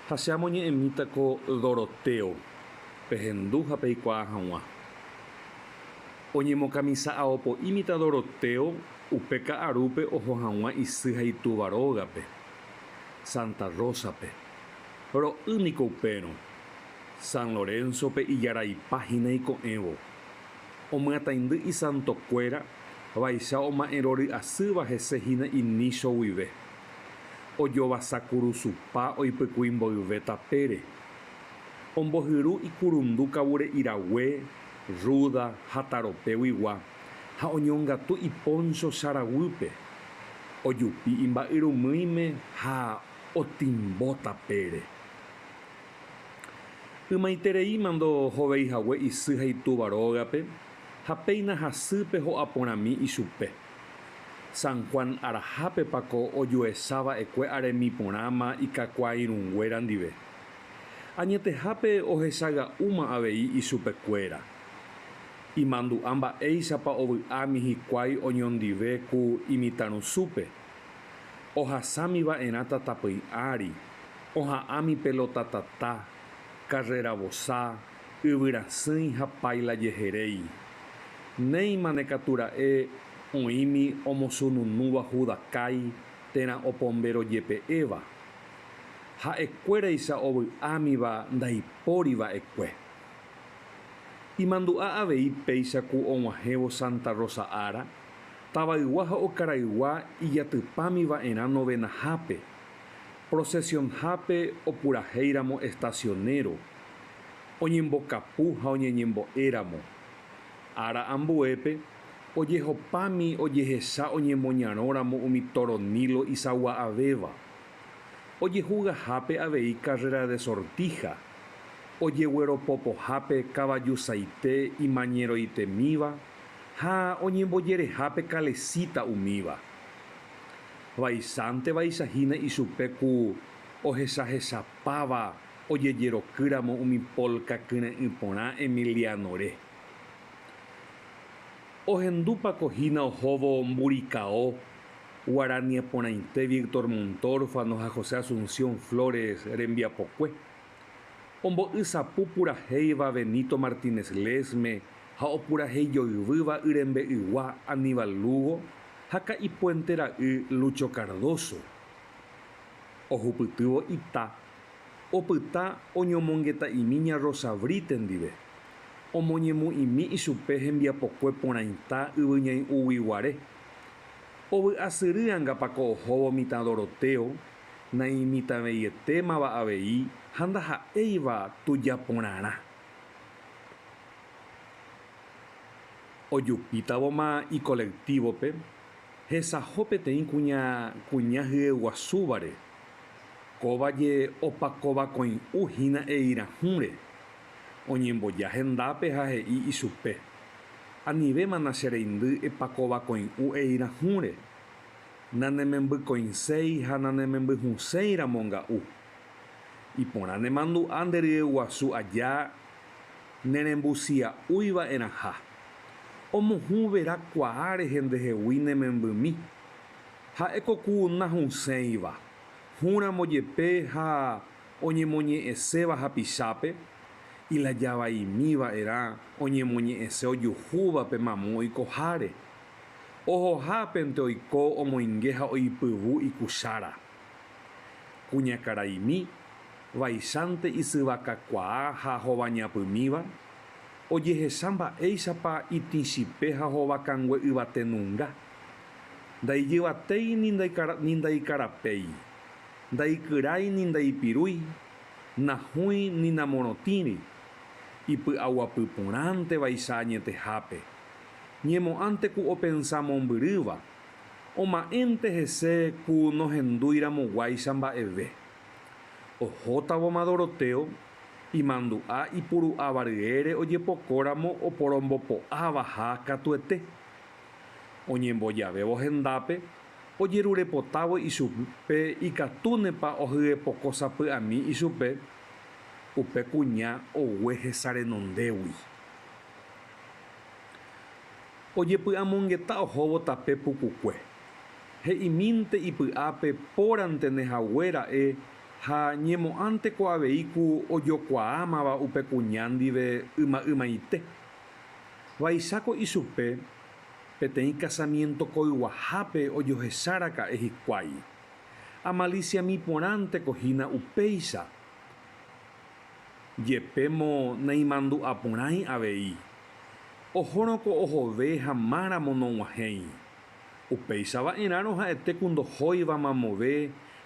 Ha che amoñe'ẽmíta ko Doroteo pehendu ha peikuaa hag̃ua. Oñemokamisa aopo'ímita Doroteo upe ka'arúpe oho hag̃ua isy ha itúva rógape, Santa Rosa-pe. Ro'y niko upérõ, San Lorenzo-pe ijaraipa hína iko'ẽvo. Omyataindy isantokuéra vaicha oma'ẽrory'asýva hese hína inícho guive. ojovasa kurusupa oipykui mboyve tapére, ombohyru ikurundu kavure irague, rúda ha taropéguigua ha oñongatu ipóncho saraguýpe, ojupi imba'yrumýime ha otimbo tapére. Ymaiterei mando hoveihague isy ha itúva rógape ha péina hasýpe ho'aporãmi ichupe. San Juan arahápepa ko ojuecha va'ekue aremi porãma ikakuaairũnguéra ndive? Añetehápe ohechaga'úma avei ichupekuéra. Imandu'a mba'éichapa ovy'ámi hikuái oñondive ku imitãrusúpe. Ohasami va'erã tatapỹi ári, oha'ãmi pelotatata, karreravosa, Yvyrasỹi ha páila jeheréi. Néimane katu ra'e oĩmi omosununúva Judakái térã opombéro jepe'éva. Ha'ekuéraicha ovy'ámiva ndaipóri va'ekue. Imandu'a avei péicha ku og̃uahẽvo Santa Rosa ára, tavaygua ha okaraygua ijatypámi va'erã novenahápe, procesionhápe opurahéiramo estacionero, oñembokapu ha oñeñembo'éramo. Ára ambuépe, ojehopami ojehecha oñemoñarõramo umi tóro Nilo isagua'avéva. Ojehugahápe avei carrera de sortija, ojegueropopohápe kavajusaite imañeroitemíva ha oñembojerehápe kalesíta umíva. Vaichántevaicha hína ichupe ku ohechahechapáva ojejerokýramo umi polka kyre'ỹ porã Emiliano-re. Ohendúpa ko hína ohóvo Mburikao, guaraniaporãite Víctor Montórfano ha José Asunción Flores rembiapokue, ombo'y sapu purahéiva Benito Martínez Lesme ha opuraheijoyvýva yrembe'ygua Aníbal Lugo ha ka'ipuente ra'y Lucho Cardoso. Ohupytývo ita Opyta oñomongeta'imi ña Rosa Brite ndive, omoñemo'ĩmi ichupe hembiapokue porãita yvyñai'ũgui guare. Ovy'asyry angapa ko ohóvo mitã Doroteo, naimitãveietémava avei ha ndaha'éiva tuja porãrã. Ojupítavoma ikolektívope, hesaho peteĩ kuña kuña hyeguasúvare. Kóva je opakovakõi'u hína eirahũre, oñemboja hendápe ha he'i ichupe, Anivémana che reindy epakovakõi'u eirahũre, nanemembykõiséi ha nanemembyhũséi ramo nga'u. Iporã nemandu'a nde ryeguasu aja nerembusia'úi va'erãha. Omohũ vera kuaa rehe ndehegui ne membymi, Ha'e ko ku nahũsẽiva, hũ ramo jepe ha oñemoñe'ẽséva hapichápe, ilajavaimi va'erã oñemoñe'ẽse ojuhúva pe mamu oikoháre. Ohohápente oiko omoinge ha oipyvu ikuchára. Kuñakaraimi, vaichánte isyvakakuaa ha hovañapymíva, ojehecha mba'éichapa itĩchipe ha hovakangue yvate nunga. Ndaijyvatéi ni ndaikarapéi, ndaikyrái ni ndaipirúi, nahũi ni namorotĩri, ipy'aguapy porãnte vaicha añetehápe, ñemo'ãnte ku opensa mombyrýva, oma'ẽnte hese ku nohendúi ramo guáicha mba'eve. Ohótavoma Dorotéo, imandu'a ipuru'ava ryére ojepoko ramo oporombopo'ávaha katuete. Oñembojavévo hendápe, ojerurepotávo ichupe ikatúnepa ohyepoko sapy'ami ichupe, upe kuña ogue hesarenondégui. Ojepy'amongeta ohóvo tape pukukue. He'imínte ipy'ápe pórantené hague ra'e ha ñemo'ãnteko avei ku ojokuaámava upe kuña ndive yma'ymaite. Vaicháko ichupe peteĩ kasamiénto koyguahápe ojohecharaka'e hikuái. Amalisiami porãnteko hína upéicha. Jepémo naimandu'a porãi avei. Ohórõko ohove ha máramo nog̃uahẽi. Upéicha va'erãrõ ha'ete ku ndohóiva mamove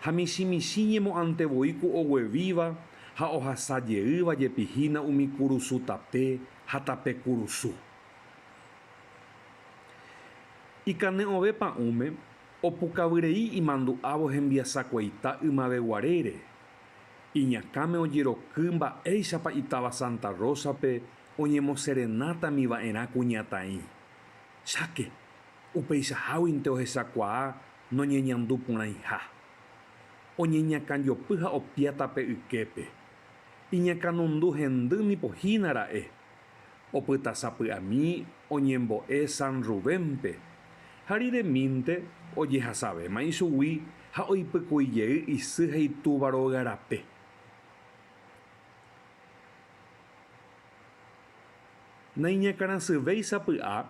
ha michĩmichĩ ñemo'ãnte voi ku oguevíva ha ohasa jeýva jepi hína umi kurusu tape ha tape kurusu. Ikane'õve pa'ũme opukavyrei imandu'ávo hembiasakueita ymaveguarére, iñakãme ojeroky mba'éichapa itáva Santa Rosa-pe oñemoserenátami va'erã kuñataĩ, cháke, upeichaháguinte ohechakuaa noñeñandu porãiha. Oñeñakãjopy ha opiáta pe yképe. Iñakãnundu hendy nipo hína ra'e. Opytasapy'ami oñembo'e San Rubénpe, ha riremínte ojehasavéma ichugui ha oipykuijey isy ha itúva rogarape. Naiñakãrasyvéi sapy'a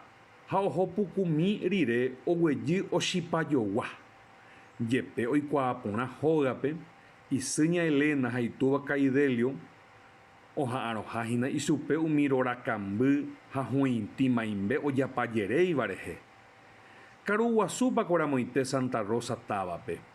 ha oho pukumi rire oguejy ochipa jogua. Jepe oikuaa porã hógape, isy ña Elena ha itúva kai Delio oha'arõha hína ichupe umi rorakamby ha huĩti maimbe ojapajeréiva rehe. Karuguasúpa ko ramoite Santa Rosa távape.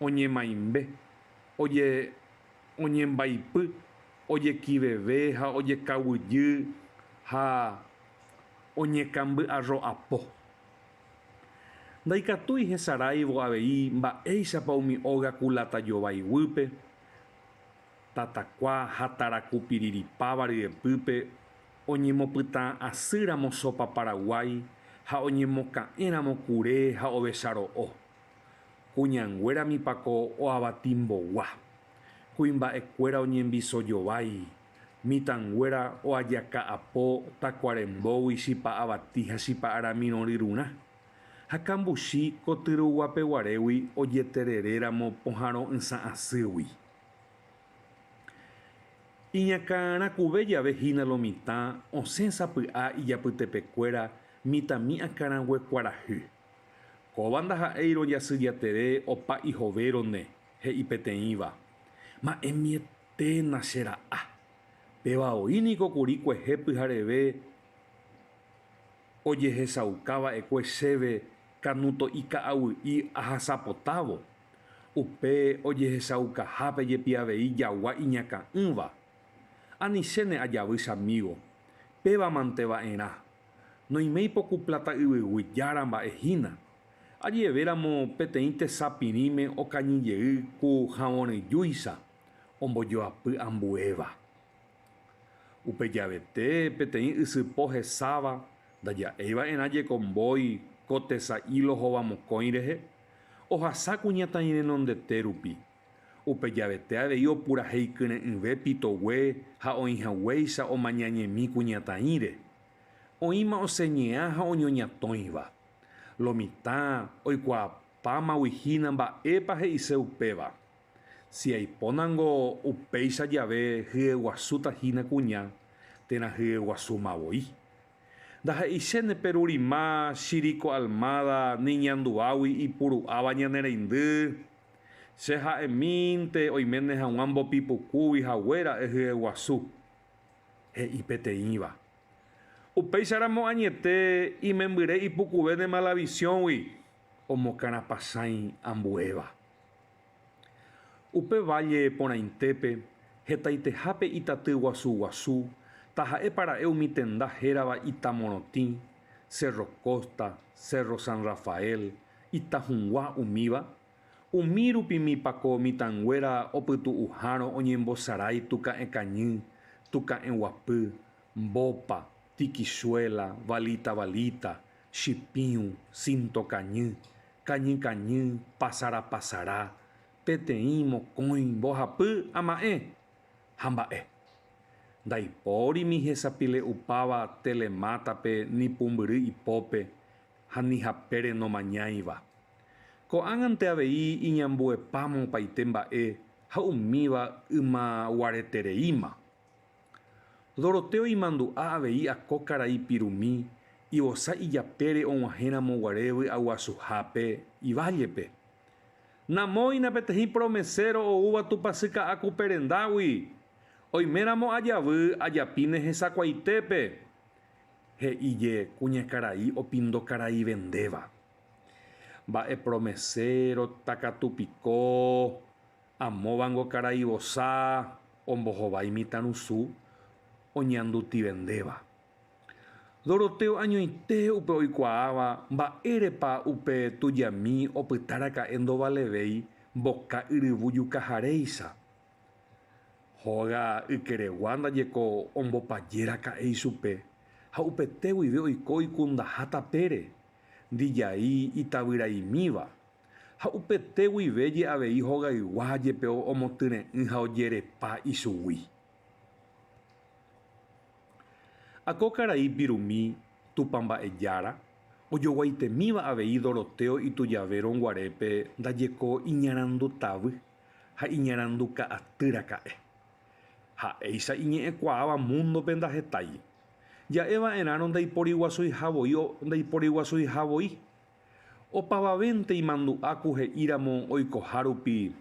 oñemaimbe, oñembaipy, ojekiveve ha ojekaguijy ha oñekamby'arro'apo. Ndaikatúi hesaráivo avei mba'éichapa umi óga kulata jovái guýpe, tatakua ha tarakupiriripáva ryepýpe oñemopytã asýramo Sopa Paraguái ha oñemoka'ẽramo kure ha ovecha ro'o. Kuñanguérami pako oavatimbogua. Kuimba'ekuéra oñembisojovái, mitãnguéra oajaka'apo takuarembógui chipa avati ha chipa aramirõryrurã. Ha kambuchi ko tyruguapeguarégui ojetereréramo pohãro'ysã asýgui. Iñakãrakuve jave hína lo mitã osẽ sapy'a ijapytepekuéra mitãmi'akãraguekuarahy. Kóva ndaha'éi rojasy jatere opa ihovérone, he'i peteĩva. Ma'ẽmieténa che ra'a. Péva oĩ niko kuri kuehe pyhareve ojehechauka va'ekue chéve kanuto'i ka'aguýi ahasapotávo, upe ojehechaukahápe jepi avei jagua iñakã'ỹva. Anichéne ajavy chamígo. Péva mante va'erã, Noime ipoku pláta yvyguy jára mba'e hína. Aje'evéramo peteĩ tesa pirĩme okañy jey ku havõrejúicha ombojoapy ambuéva. Upe javete peteĩ ysypo hesáva ndaja'éi va'erã jeko mbói ko tesa ílo hovamokõi rehe, ohasa kuñataĩ renondete rupi. Upe javete avei opurahéi kyre'ỹve pitogue ha oĩ haguéicha omañañemi kuñataĩre. Oĩma oseñea ha oñoñatõiva. Lo mitã oikuaapámagui hína mba'épa he'ise upéva. Si aipónango upéicha jave hyeguasúta hína kuña, térã hyeguasúma voi. Ndaha'eichéne perurima Shiri ko Almada ni ñanduágui ipuru'áva ñane reindy. Che ha'emínte oiméne hag̃ua mbopi pukúgui hague ra'e hyeguasu. He'i peteĩva. Upéicharamo añete imembyre ipukuvéne Malavisiõgui omokarapasãi ambuéva. Upe válle porãitépe, hetaitehápe itaty guasu guasu, taha'épa ra'e umi tenda hérava Ita Morotĩ, Cerro Costa, Cerro San Rafael, Ita Hũgua umíva, umi rupimipa ko mitãnguéra opytu'uhárõ oñembosarái Tuka'ẽ Kañy, Tuka'ẽ Guapy, Mbopa, Tikichuela, Valita Valita, chipiũ, sintokañy, kañykañy, pasarapasara, peteĩ, mokõi, mbohapy, ama'ẽ, ha mba'e. Ndaipórimi hesapile'upáva telemátape ni pumbyry ipópe ha ni hapére nomañáiva. Ko'ág̃ante avei iñambuepáma opaite mba'e ha umíva ymaguaretereíma. Doroteo imandu'a avei ako karai pirumi ivosa ijapére og̃uahẽramo guare vy'aguasuhápe ivállepe. Namóina peteĩ promeséro oúva tupasyka'ã kupe rendágui, oiméramo ajavy ajapíne hesakuaitépe, he'íje kuñakarai opindokarai vendéva. Mba'e promeséro takatupiko? Amóvango karai vosa ombohova imitãrusu oñandutivendéva. Doroteo añoite upe oikuaáva mba'érepa upe tujami opytaraka'e ndovalevéi mboka yryvu jukaharéicha. Hóga ykeregua ndaje ko ombopajéraka'e ichupe ha upete guive oiko oikundaha tapére, ndijai itavyraimíva Ha upete guive je avei hogaygua jepe omotyre'ỹ ha ojerepa ichugui. Ha ko karai pirumi Tupã Mba'ejára, ojoguaitemíva avei Doroteo Itujavero nguarépe ndajeko iñarandutavy ha iñaranduka'aty raka'e. Ha'éicha iñe'ẽkuaáva múndope ndahetái. Ja'e va'erãrõ ndaiporiguasuiha voi. Opavavénte imandu'a ku he'íramo oikoha rupi,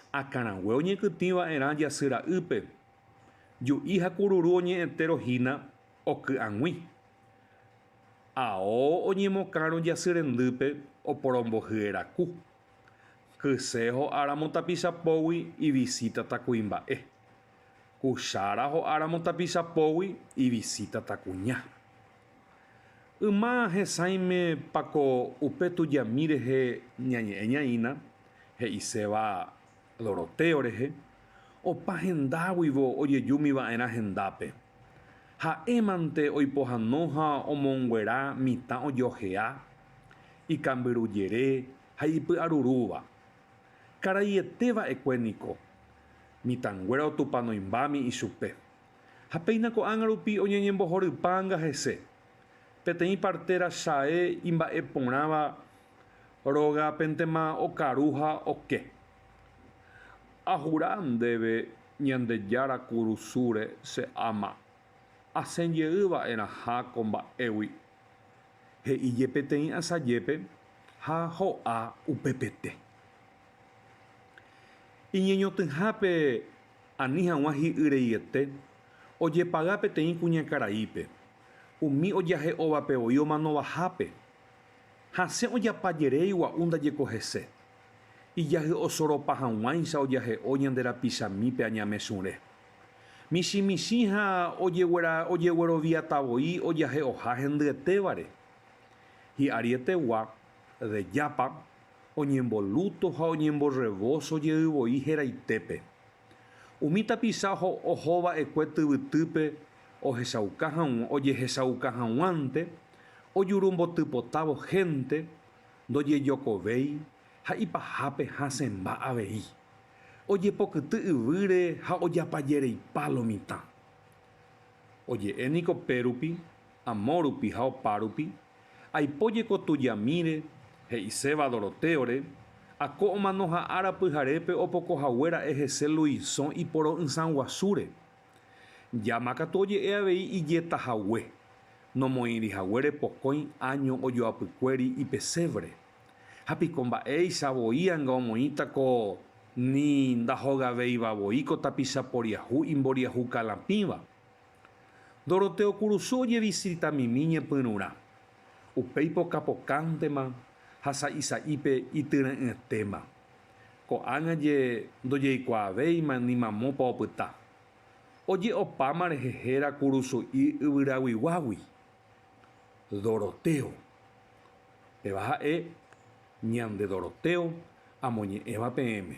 akãrague oñekytĩ va'erã jasy ra'ýpe, ju'i ha kururu oñe'ẽtérõ hína oky'ag̃ui. Ao oñemokãrõ jasy rendýpe oporombohye raku. Kyse ho'áramo tapicha pógui ivisítata kuimba'e. Kuchára ho'áramo tapicha pógui ivisítata kuña. Yma hesãime pako upe tujami rehe ñañe'ẽ ñaína, he'iséva Dorotéo rehe, opa hendáguivo ojejumi va'erã hendápe. Ha'émante oipohano ha omonguera mitã ojohea, ikambyrujere ha ipy'arurúva. Karaiete va'ekue niko, mitãnguéra otupanoimbámi ichupe. Ha péina ko'ág̃a rupi oñeñembohorypáanga hese, peteĩ partera Shae imba'e porãva rogapentema okaru ha oke. Ahura ndéve Ñandejára kurusúre che ama, asẽ jey va'erãha ko mba'égui. He'íje peteĩ asajépe ha ho'a upepete. Iñeñotỹhápe Ani hag̃ua hi'yreiete ojepaga peteĩ kuñakaraípe, umi ojahe'óvape voi omanovahápe. Hasẽ ojapa jerei gua'u ndajeko hese. Ijahyo osoropa hag̃uáicha ojahe'o ñande rapichamípe añamesũre. Michĩ michĩ ha ojegueroviatavoi ojahe'oha hendyetévare. Hi'arietegua Rejápa oñemboluto ha oñemborrevoso jey voi heraitépe. Umi tapicha oho va'ekue tyvytýpe ohechauka hag̃ua, ojehechauka hag̃uánte, ojuru mbotypotávo hénte, ndojejokovéi ha ipahápe hasẽmba avei. Ojepokyty yvýre ha ojapajereipa lo mitã. Oje'e niko pérupi, amórupi ha opárupi. Aipo jeko tujamíre, he'iséva Dorotéore, Ako omano ha ára pyharépe opoko hague ra'e hese Luisõ iporo'ysã guasúre. Llama katu oje'e avei ijeta hague, nomoĩri haguére pokõi áño ojoapykuéri ipesévre. Ha piko mba'éicha voi anga omoĩta ko ni ndahogavéiva voi ko tapicha poriahu imboriahu kalãpĩva. Doroteo kurusu ojevisitamitmi ñepyrũrã, upéi pokapokãntema ha sa'isa'ípe ityre'ỹetéma. Ko'ág̃a je ndojeikuaavéima ni mamópa opyta. Oje'opáma rehe héra kurusu'i yvyraguiguágui. Doroteo. Péva ha'e ñande Doroteo amoñe'ẽva peẽme.